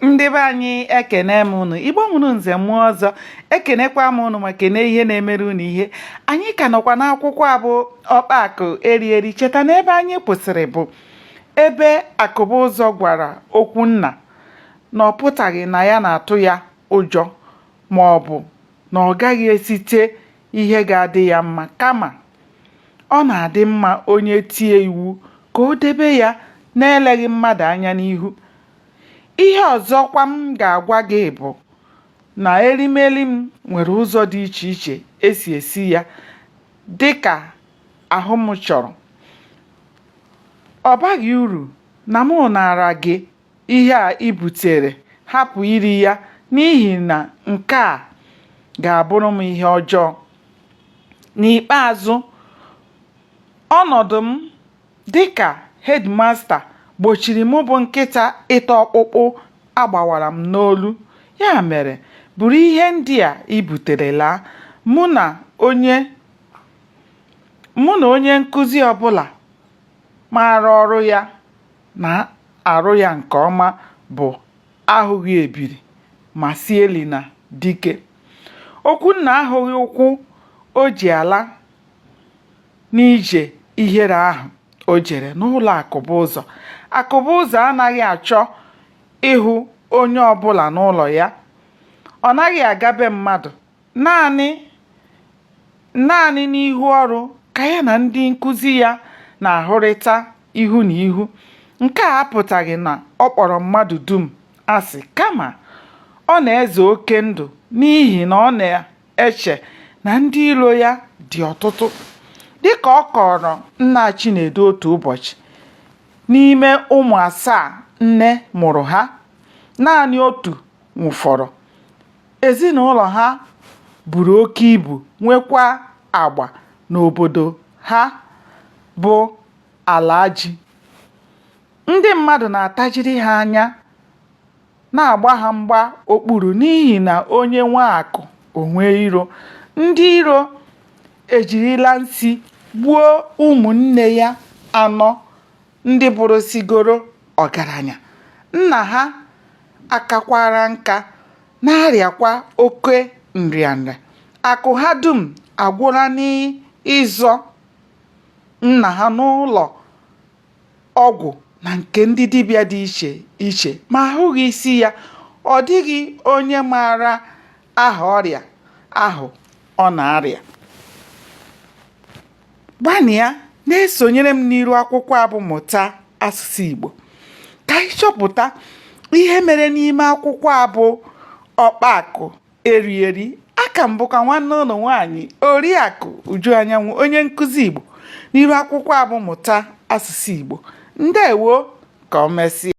ndị be anyị ekene m unu igbo mụrụ nze mụọ ọzọ ekenekwa m unu ma kene ihe na-emere unu ihe anyị ka nọkwa n'akwụkwọ a bụ ọkpa akụ eri eri cheta na ebe anyị kwụsịrị bụ ebe akụbuzọ gwara okwunna na ọ pụtaghị na ya na-atụ ya ụjọ ma ọ bụ na ọ gaghị esite ihe ga-adị ya mma kama ọ na-adị mma onye tie iwu ka o debe ya n'eleghị mmadụ anya n'ihu ihe ọzọkwa m ga-agwa gị bụ na erimeri m nwere ụzọ dị iche iche e si esi ya dị ka ahụ m chọrọ ọ baghị uru na mụ naara gị ihe a i butere, hapụ iri ya, n'ihi na nke a ga-abụrụ m ihe ọjọọ. N'ikpeazụ, ọnọdụ m dị ka hedmasta gbochiri mụ bụ nkịta ịta ọkpụkpụ a gbawara m n'olu. Ya mere, buru ihe ndị a i butere laa. Mụ na onye mụ na onye nkụzi ọbụla maara ọrụ ya na-arụ ya nke ọma bụ ahụghị ebiri ma sị elina dike okwunna ahụghị ụkwụ o ji ala n'ije ihere ahụ o jere n'ụlọ akụbuzọ akụbuzọ anaghị achọ ịhụ onye ọbụla n'ụlọ ya ọ naghị aga be mmadụ naanị naanị n'ihu ọrụ ka ya na ndị nkụzi ya na-ahụrịta ihu na ihu. Nke a apụtaghị na ọ kpọrọ mmadụ dum asị, kama ọ na-eze oke ndụ n'ihi na ọ na-eche na ndị iro ya dị ọtụtụ. Dị ka ọ kọọrọ nna Chinedu otu ụbọchị, n'ime ụmụ asaa nne mụrụ ha, naanị otu nwụfọrọ. Ezinụlọ ha buru oke ibu nwekwa agba n'obodo ha bụ Alaji. Ndị mmadụ na-atajiri ha anya na-agba ha mgba okpuru n'ihi na onye nwee akụ o nwee iro. Ndị iro ejirila nsi gbuo ụmụnne ya anọ ndị bụrụsigoro ọgaranya nna ha akakwara nka na-arịakwa oke nrịanrịa akụ ha dum agwụla n'ịzọ nna ha n'ụlọ ọgwụ na nke ndị dibịa dị iche iche ma ahụghị isi ya ọ dịghị onye maara aha ọrịa ahụ ọ na-arịa gbanịa na-esonyere m n'iru akwụkwọ a bụ mụta asụsụ Igbo ka anyị chọpụta ihe mere n'ime akwụkwọ a bụ ọkpa akụ eri eri aka m bụkwa nwanne unu nwaanyị oriakụ uju anyanwụ onye nkụzi Igbo n'iru akwụkwọ a bụ mụta asụsụ Igbo ndewo ka o mesịa